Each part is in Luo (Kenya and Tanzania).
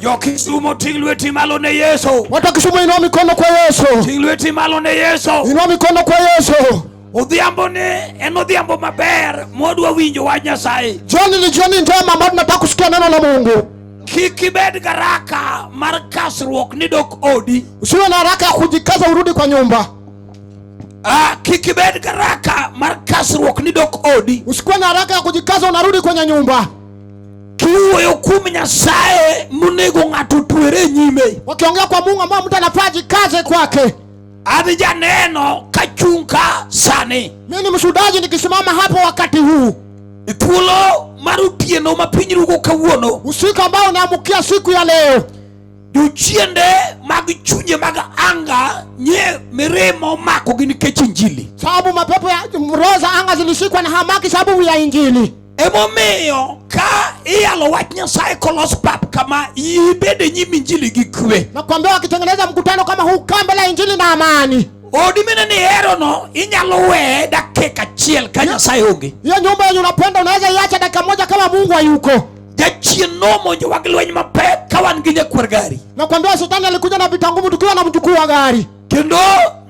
Jo Kisumo ting' lweti malo ne Yesu. Watu wa Kisumu inua mikono kwa Yesu. Ting' lweti malo ne Yesu. Inua mikono kwa Yesu. Odhiambo ni en odhiambo maber modwa winjo wach Nyasaye. Jioni ni jioni njema ambayo tunataka kusikia neno la Mungu. Kik ibed garaka mar kasruok ni dok odi. Usiwe na haraka ya kujikaza urudi kwa nyumba. Ah, kik ibed garaka mar kasruok ni dok odi. Usikuwe na haraka ya kujikaza unarudi kwenye nyumba. Kiwuoyo kuom Nyasaye monego ng'ato tuere e nyime. Wakiongea kwa Mungu ambao mtu anafaa jikaze kwake. Adhi janeno kachung' ka sani. Mimi ni mshuhudaji nikisimama hapo wakati huu. E thuolo mar otieno ma piny rugo kawuono. Usiku ambao unaamkia siku ya leo. Jochiende mag chunje mag anga nye mirima omakogi nikech Injili. Sababu mapepo ya roho za anga zilishikwa na hamaki sababu ya Injili. Emomiyo ka iyalo wach Nyasaye kolos pap kama, ibed e nyim injili gi kwe. Nakwambia wakitengeneza mkutano kama huu, kaa mbele ya injili na amani. Odi mine ni hero no inyalo weye dakika achiel ka Nyasaye onge. Hiyo nyumba yenye unapenda unaweza iacha dakika moja kama Mungu hayuko. Jachien nomonjo wa gi lweny mapek ka wan gi nyakwar gari. Nakwambia shetani alikuja na vita ngumu tukiwa na mjukuu wa gari. kendo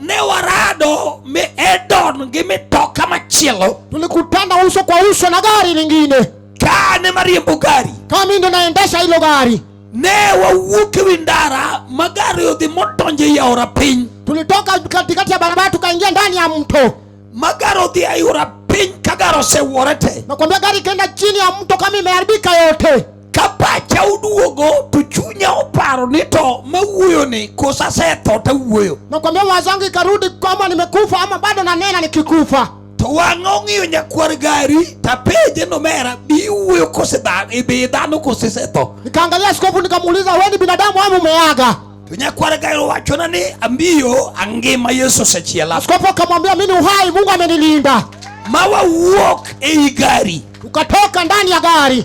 ne warado mi Edon gi mitoka machielo, tulikutana uso kwa uso na gari lingine, kane mariembo gari, kama mimi ndo naendesha hilo gari ne wawuok ewi ndara ma gari odhi modonjo ei aora piny tulitoka katikati ya barabara tukaingia ndani ya mto ma gari odhi aora piny ka gari osewuore te nakwambia gari ikaenda chini ya mto kama imeharibika yote Ka pacha oduogo to chunya oparo ni to mawuoyo ni kosa setho tawuoyo. Nakwambia mawazo yangu ikarudi kwamba nimekufa ama bado nanena nikikufa. To wang'a ong'iyo nyakwar gari tapenje nomera bi wuoyo kose dhano ibi dhano kose setho. Nikaangalia askofu nikamuuliza wewe ni binadamu ama umeaga? To nyakwar gari owachona ni ambiyo angima Yesu osechiela. Askofu akamwambia mimi ni uhai Mungu amenilinda. Ma wawuok ei gari. Tukatoka ndani ya gari.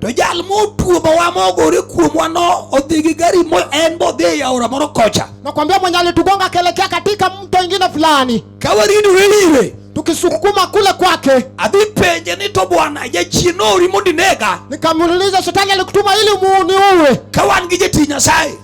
To jal motuomowa mogore kuomwa no odhi gi gari mo en modhi e aora moro kocha. Nakwambia mwenye alitugonga kelekea katika mto ingine fulani. Kawarindu ile tukisukuma kule kwake. Adhi penje ni to bwana jachien noori mondo inega. Nikamuuliza shetani alikutuma ili uniue. Ka wan gi jatich Nyasaye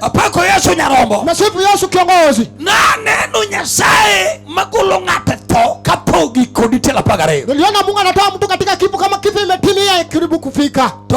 Apako Yesu nyarombo. Nasifu Yesu kiongozi. Na neno Nyasaye magolo ng'ate tho kapok giko dichiel apar gariyo. Niliona Mungu anatoa mtu katika kifo kama kifo imetimia karibu kufika. To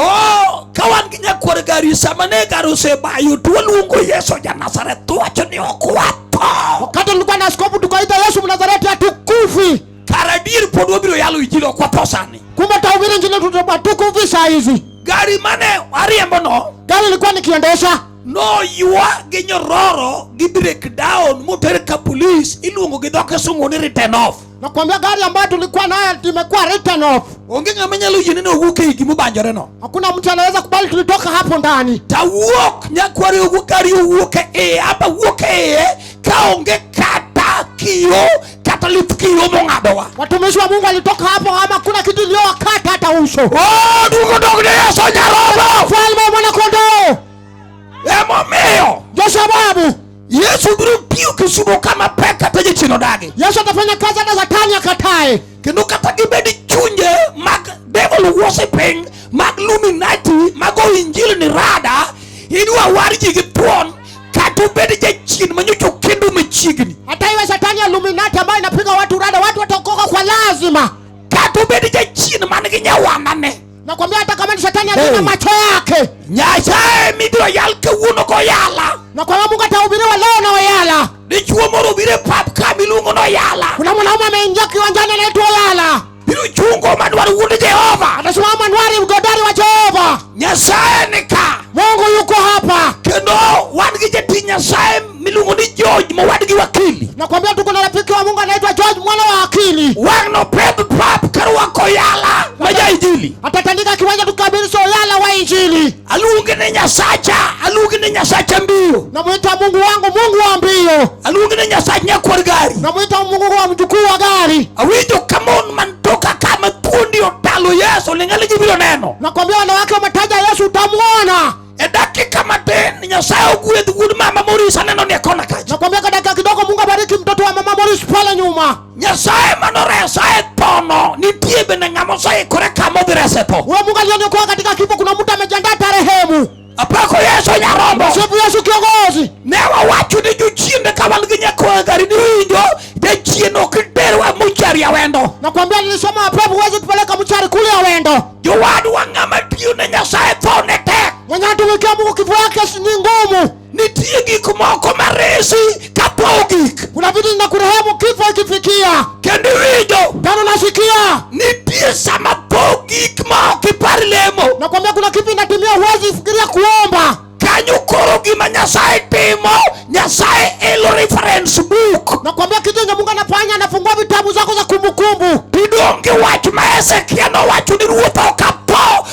ka wan gi nyakwar gari sama ne gari osebayo to waluongo Yesu ja Nazareth to wacho ni ok watho. Wakati nilikuwa na askofu tukaita Yesu Mnazareti hatukufi. Kara adier pod wabiro yalo injili kwa tosani. Kumbe tahubiri injili tutatukufu visa hizi. Gari mane ariembo no. Gari ilikuwa nikiendesha. No yua gi nyororo gi break down moter ka police iluongo gi dhoke sungu ni written off. Nakwambia gari ambayo tulikuwa nayo imekuwa written off. Onge ng'ama nyalo yie neno owuok ei gima ubanjore no. Hakuna mtu anaweza kubali tulitoka hapo ndani. Tawuok nyakwari owuok gari owuok e hapa wuok e ka onge kata kio kata lith kiyo mong'adowa. Watumishi wa Mungu walitoka hapo ama kuna kitu iliyowakata hata uso. Oh, duko dog ne Yesu nyarobo. Falme mwana kondoo. Emo miyo. Joshua babu. Yesu biro tiyo kisudo kama pek kata jachino dagi. Yesu atafanya kazi hata Shetani akatae. Kendo kata gibedi chunje mag devil worshiping mag luminati mago injili ni rada idwa warji gi thuon Kata ubed jachien ma nyocha okendo machiegni. Hata iwe shetani ya Illuminati ambayo inapiga watu rada, watu wataokoka kwa lazima. Kata ubed jachien man gi nyawanane. Nakwambia hata kama ni shetani ya hey, macho yake. Nyasaye mibiro yal kawuono koyala. Na kwa Mungu atahubiriwa leo na oyala. Dichuo moro obiro e pap ka miluongo noyala. Kuna mwanaume ameingia kiwanjani anaitwa Oyala. Biro chungo ma dwaro wuod Jehova. Atasimama mwanwari mgodari wa Jehova. Nyasaye ni ka. Mungu yuko hapa. Kendo wan gi jatich Nyasaye miluongo ni George mowadgi wakili. Nakwambia tuko na rafiki wa Mungu anaitwa George mwana wa akili. Wang no pep pap karwako yala maja injili. Atatandika kiwanja tukabiri so yala wa injili. aluonge ni nyasacha aluonge ni nyasacha mbio namwita mungu wangu mungu wa mbio aluonge ni nyasach nyakwar gari namwita mungu wa mjukuu wa gari awinjo ka mon man toka ka ma thuondi otalo yesu ling'ali gibiro neno nakwambia wanawake wametaja yesu utamwona e dakika matin nyasaye ogwedh wuod mama moris aneno ni e kona kacha nakwambia kwa dakika kidogo mungu abariki mtoto wa mama moris pale nyuma nyasaye mane oresa e thono nitie bende ng'ama oseikore kama odhi rese tho Huyo Mungu alioniokoa katika kifo, kuna mtu amejiandaa tarehemu. apako yesu nyarombo Msifu Yesu kiongozi. ne wawacho ni jochiende ka wan gi nyakoa gari niwinjo jachien ok iterwa muchari awendo Nakwambia nilisoma mapepo, huwezi tupeleka mchari kule ya wendo. jowadwa ng'ama tiyo ne nyasaye thone tek Mwenye atumikia Mungu kifo yake si- ni ngumu. Nitie gik moko maresi kapo ogik. Kuna vitu zinakurehemu kifo ikifikia. Kendo iwinjo. Kama unasikia. Nitie sama po ogik ma ok ipar lemo. Nakwambia kuna kitu inatimia huwezi fikiria kuomba. Kanyo koro gima Nyasaye timo, Nyasaye elo reference book. Nakwambia kitu yenye Mungu anafanya, anafungua vitabu zako za kumbukumbu. Tudonge wach ma Hezekia nowacho ni ruoth okapo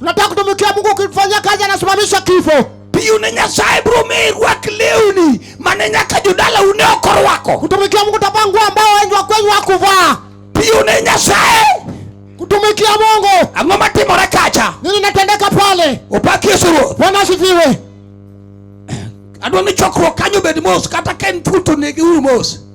Nataka kutumikia Mungu ukifanya kazi anasimamisha kifo. Piu ne Nyasaye bro me rwak lewni mane nyaka jodala une oko rwako. Kutumikia Mungu utavaa nguo ambao wengi wa kwenyu hakuvaa. Piu ne Nyasaye kutumikia Mungu. Ang'o matimore kacha? Nini natendeka pale? Upaki Yesu Ruoth. Bwana asifiwe. Adwa ni chokruok kanyo bed mos kata ka en thuto negi uru mos.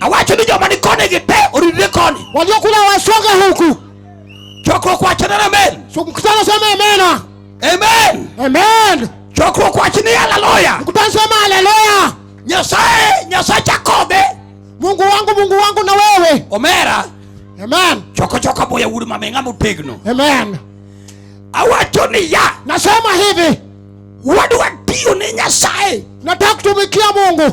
Awacho ni joma ni koni gi te oridre koni. Waliokula wasonge huku. Chokruok wacho ni amen. Mkutano sema amena. Amen. Amen. Chokruok wacho ni haleluya. Mkutano sema haleluya. Nyasaye, Nyasaye Jakobe. Mungu wangu, Mungu wangu na wewe. Omera. Amen. Choko choko boya wuri mamenga mutegno. Amen. Awacho ni ya. Nasema hivi. Wadwa tiyo ni Nyasaye. Nataka kutumikia Mungu.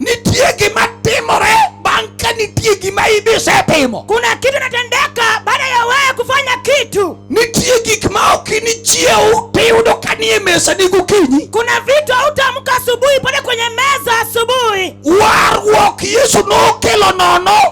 Nitie gima timore bang' ka nitie gima ibi isetimo. Kuna kitu inatendeka baada ya wewe kufanya kitu. Nitie gik ma ok inichiew tiyudo ka nie mesani gokinyi. Kuna vitu hautaamka asubuhi pale kwenye meza asubuhi. Warruok Yesu nokelo nono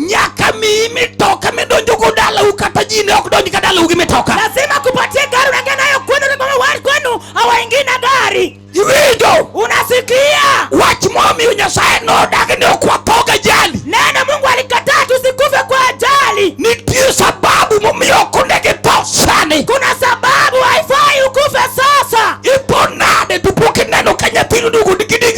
nyaka miyi mitoka midonjo go dalau kata ji ne ok donj ka dalau gi mitoka lazima kupatie gari unaingia nayo kwenu kama wali kwenu hawaingii na gari iwinjo unasikia wach momiyo nyasaye nodagi ni ok wathoga jali neno mungu alikataa tusikufe kwa ajali nitie sababu momiyo ok ondegi tho sani kuna sababu haifai ukufe sasa ipo nade tupo kineno ka nyathino dugo digidigi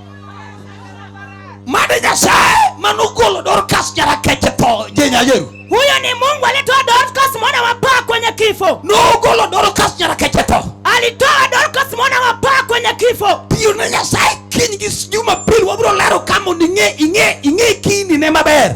Mane Nyasaye manogolo Dorcas nyarakeche tho je nyajeru. Huyo ni Mungu alitoa Dorcas mwana wa paa kwenye kifo. Nogolo Dorcas nyarakeche tho. Alitoa Dorcas mwana wa paa kwenye kifo. Tiyo ne Nyasaye kiny gi Jumapil wabiro lero kama ing'e ing'e ing'e kini ne maber.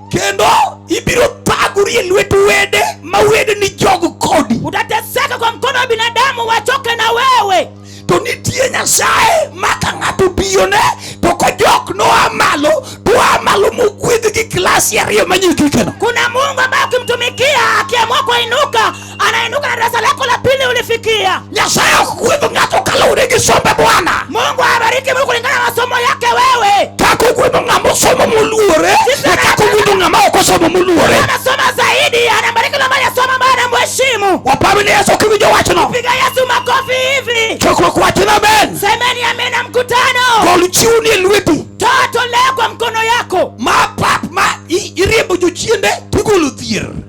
kendo ibiro thagori e lwet wede ma wede ni jogo kodi. Utateseka kwa mkono wa binadamu wachoke na wewe. To nitie Nyasaye ma ka ng'ato biyone to kojok noa malo to oa malo mogwedh gi klasi ariyo manyikikeno. Kuna Mungu ambaye ukimtumikia akiamua kuinuka anainuka na darasa lako la pili ulifikia. Nyasaye okuguidho ng'ato kaluwore gi sombe Bwana. Mungu awabariki mtu kulingana na masomo yake wewe. Kaka oguidho ng'ama osomo moluore, e kaka oguidho ng'ama ok osomo moluore. Anasoma zaidi, anabariki na mali asoma ambaye anamheshimu. Waparo ni Yesu kiwinjo wachno. Piga Yesu makofi hivi. Chokruok wachno amen. Semeni amina mkutano. Gol chiwni e lweti. Toa toleo kwa mkono yako. Ma pap ma i- iriembo jochiende tigolo dhier.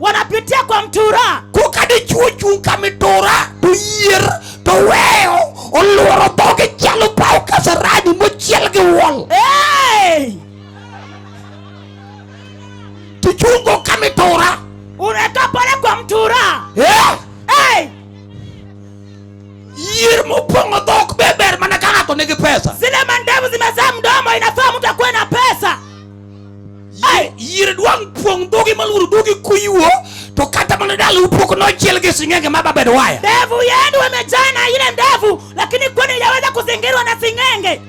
wanapitia kwa mtura koka dichwo chung' ka mitura to yier to weyo oluoro dhoge chalo paw kasarani mochiel gi wol hey! tichungo ka mitura unakaa pale kwa mtura Eh, hey! yier mopong'o dhok be ber mana ka ng'ato nigi pesa zile mandevu zimezaa mdomo inafaa mtu akuwe na pesa Ai, yire dwang' puong' dhogi malworo dhogi kuyuo to kata mana dala upoko nochiel gi sing'enge ma babed waya. Ndevu yenu wamejana ile ndevu, lakini kwani yaweza kuzingirwa na sing'enge?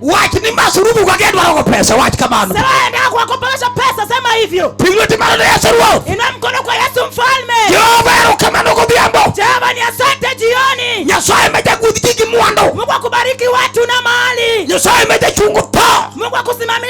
Wach ni masurubu kwa gendo wako pesa, wach kamano. Sema enda kwa kupelesha pesa, sema hivyo. Pigwe timano na Yesu ruo. Ina mkono kwa Yesu mfalme. Jehova yaro kamano kwa biambo. Jehova ni asante jioni. Nyasaye meja kudhiki mwando. Mungu akubariki watu na mali. Nyasaye meja chungu pa. Mungu akusimamia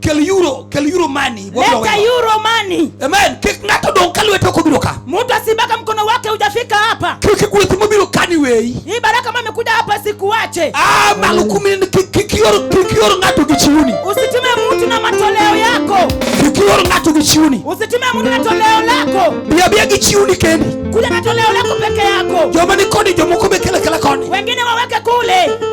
Kel euro, kel euro money. Leta euro money. Amen. Kik ng'ato dong' ka lwete ok obiro ka. Mtu asibaka mkono wake hujafika hapa. Kik gweth mobiro kani weyi. Hii baraka ambayo imekuja hapa sikuache. Ah, malo kumi kik ior kik ior ng'ato gi chiuni. Usitume mtu na matoleo yako. Kik ior ng'ato gi chiuni. Usitume mtu na toleo lako. Bia bia gi chiuni kendi. Kuja na toleo lako peke yako. Joma ni kodi jomoko be kele kele koni. Wengine waweke kule.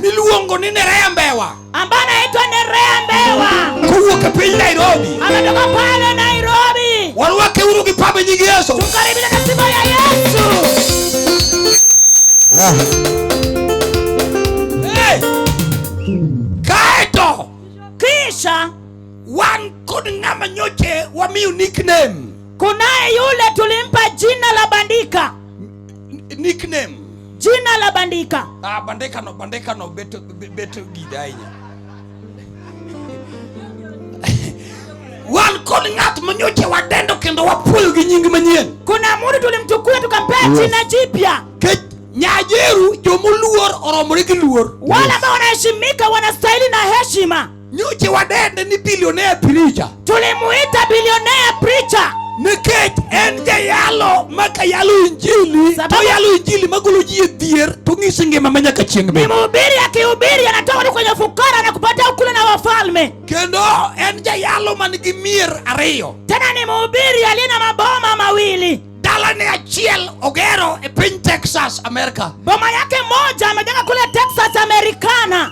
miluongo ni Nerea Mbewa ambaye anaitwa Nerea Mbewa kowuok e piny Nairobi, ametoka pale Nairobi. Warwake uru gi pambe nyingi Yesu, tukaribisha na sifa ya Yesu. Hey! Kaeto kisha wan kod ng'ama nyoche wamiyo nickname, kunaye yule tulimpa jina la bandika Nickname. Jina la bandika. Ah, bandika no bandika no beto beto gidainya. Wan kod ng'at manyocha wadendo kendo wapuoyo gi nying manyien. Kuna mtu tulimchukua tukampea jina jipya. Nyajeru jomoluor oromore gi luor. Wale ambao wanaheshimika wanastahili na heshima. Nyoche wadende ni billionaire preacher. Tulimuita billionaire preacher. Nikech en jayalo ma kayalo injili to yalo injili magolo ji e dhier to ng'isi ngima ma nyaka chieng' bende. Ni mhubiri akihubiri anatoa watu kwenye fukara na kupata ukule na wafalme. Kendo en jayalo man gi mier ariyo. Tena ni mhubiri aliye na maboma mawili. Dalane achiel ogero e piny Texas, America. Boma yake moja amejenga kule Texas, Americana.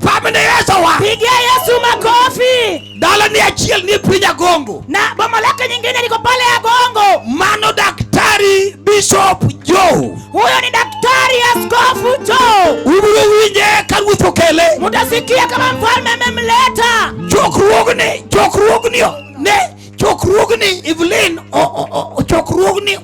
Pamne Yesu wa. Pigia Yesu makofi. Dalane achiel ni piny Agongo. Na boma lake nyingine liko pale Agongo. Mano daktari Bishop Joe. Huyo ni daktari Askofu Joe. Ubiro winje ka ruoth okele. Mutasikia kama mfalme amemleta. Chokruogni, chokruogni ne Chokruogni Evelyn chokruogni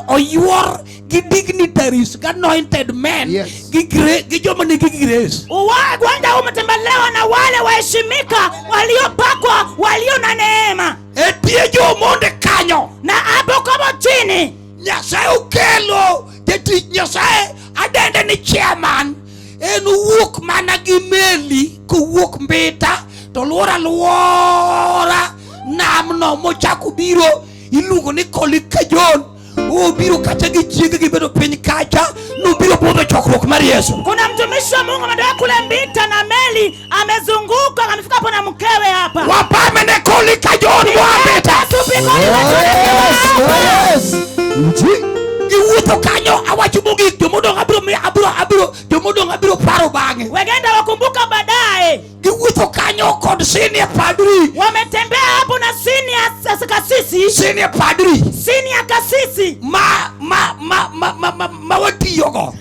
oyuor gi dignitaries gi anointed men yes. gi gi joma nigi grace. Uwagwanda umetembelewa na wale waheshimika waliopakwa walio na neema. Etie jomonde kanyo na hapo kama chini Nyasaye ukelo jatich Nyasaye adende ni chairman en owuok mana gi meli kowuok mbita to luoro aluora namno mochako biro iluongo ni kolikajon obiro kata gi chiege gibedo piny kacha nobiro budho chokruok mar yesu kuna mtumishi wa mungu ametoka kule mbita na meli Amezunguka amefika hapo na mkewe hapa. Wapame ne kuli ka John Wabeta. Yes. Nji. Iwuotho kanyo awacho mogik jomodong abiro abiro abiro jomodong abiro paro bang'e. Wegenda wakumbuka baadaye. Giwuotho kanyo kod senior padri. Wametembea hapo na senior kasisi. Senior padri. Senior kasisi. Ma ma ma ma ma, ma, ma watiyogo.